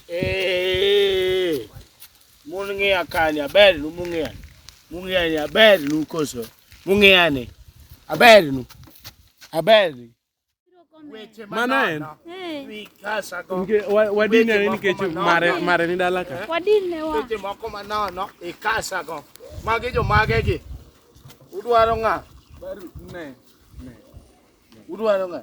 Eh, mun ng'iya kani aber nu mung'iya mung'iya ni aber nu koso mung'iya ni aber nu aber ni weche Mana en. manono Eh, wi kasa go Nike- wa- Wadine Weche moko nikech manono. mare mare ni dala ka. wadine wa. weche moko manono ikasa go magi jomage gi udwaro ng'a udwaro ng'a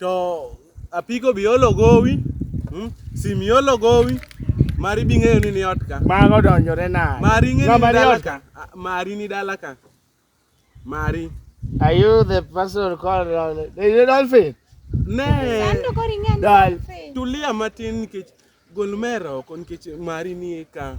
To apiko bi olo gowi, hmm? sim iolo gowi, mari bi ng'eyo ni ni ot ka. Mago donjore na. Mari ng'eyo ni Ng'ama ni dala ot ka. ka. Ah, Mari ni dala ka. Mari. Are you the person called Dolphin? Is it Dolphin? Ne. Sando kori ng'ani Dal. Dolphin. Tulia matin nikech gol mero oko nikech mari ni ka.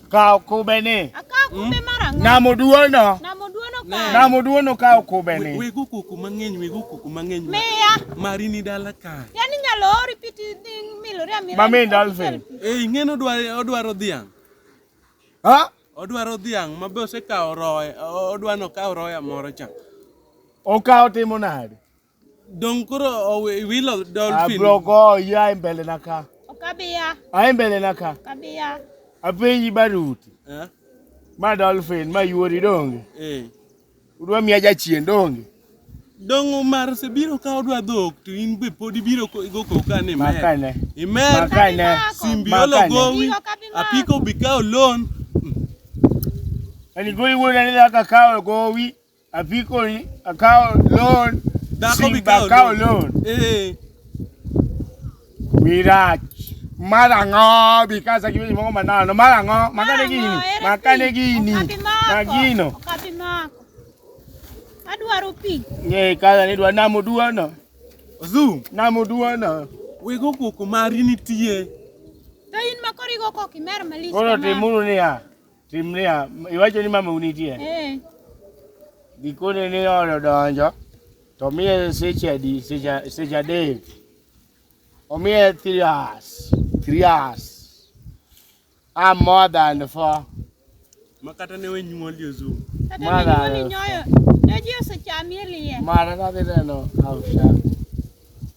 Kawo kubeni. Akawo kube mar ang'o? Namo duono. Namo duono kare. Namo duono kawo kubeni. Wego kuku mang'eny, wego kuku mang'eny. Miya. Mari ni dala kae. Yaani inyalo ori piti dhi milori amila. Mami dolphin. Eh, ing'eno odwa- odwaro dhiang'. Ha? Odwaro dhiang' ma be osekawo roye, odwano kawo roya moro cha. Okawo timo nade? Dong koro owe- wilo dolphin. Abro goyi ae mbele na ka. Ok abiya, Ae mbele na ka. ok abiya. Apenji baruti. Eh, Ma dolphin ma yuori donge. eh. Udwa miya jachien donge. Dong Omar sebiro ka odwa dhok to in be pod ibiro ko- go koka ni mer. Makane. Imer Makane. simbiolo Makane. gowi Gigo ka bimako. apiko bikawo loan. Ani goyi wuoda ni dhaka kawo gowi. Apiko ni akawo loan. Dhako bi kawo akawo loan. Eh. Wirach. Mar ang'o bi kasa gi weche moko manano. Mar ang'o? Makane gini. Makane gini. Magino. Okapi mako. Adwaro pi. Ng'e kasa ni dwa namo duono. Ozu. Namo duono. Wego koko mari nitie. To in makorigo kok imer malich. Koro timuru niya. Timrea, iwacho ni mama unitie? Eh. Gikone ni oro donjo to miye seche adi seche seche adek. Omiye three hours. Three hours. I'm more than four. Makata ne we nyuoli ozu. Mara. Nyoyo. Nyoyo sechami elie. Mara na deno. After.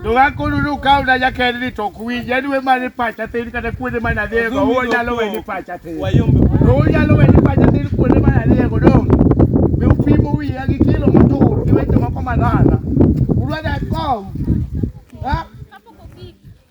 Ndũgakũruru kau na nyakeriri to kuwinja niwe mani pacha tĩri kana kuonde mana thiego ũguo nyalo we ni pacha tĩri ũguo nyalo we ni pacha tĩri kuonde mana thiego no mi upimo wiya gi kilo motur gi weche moko manana urwadha kom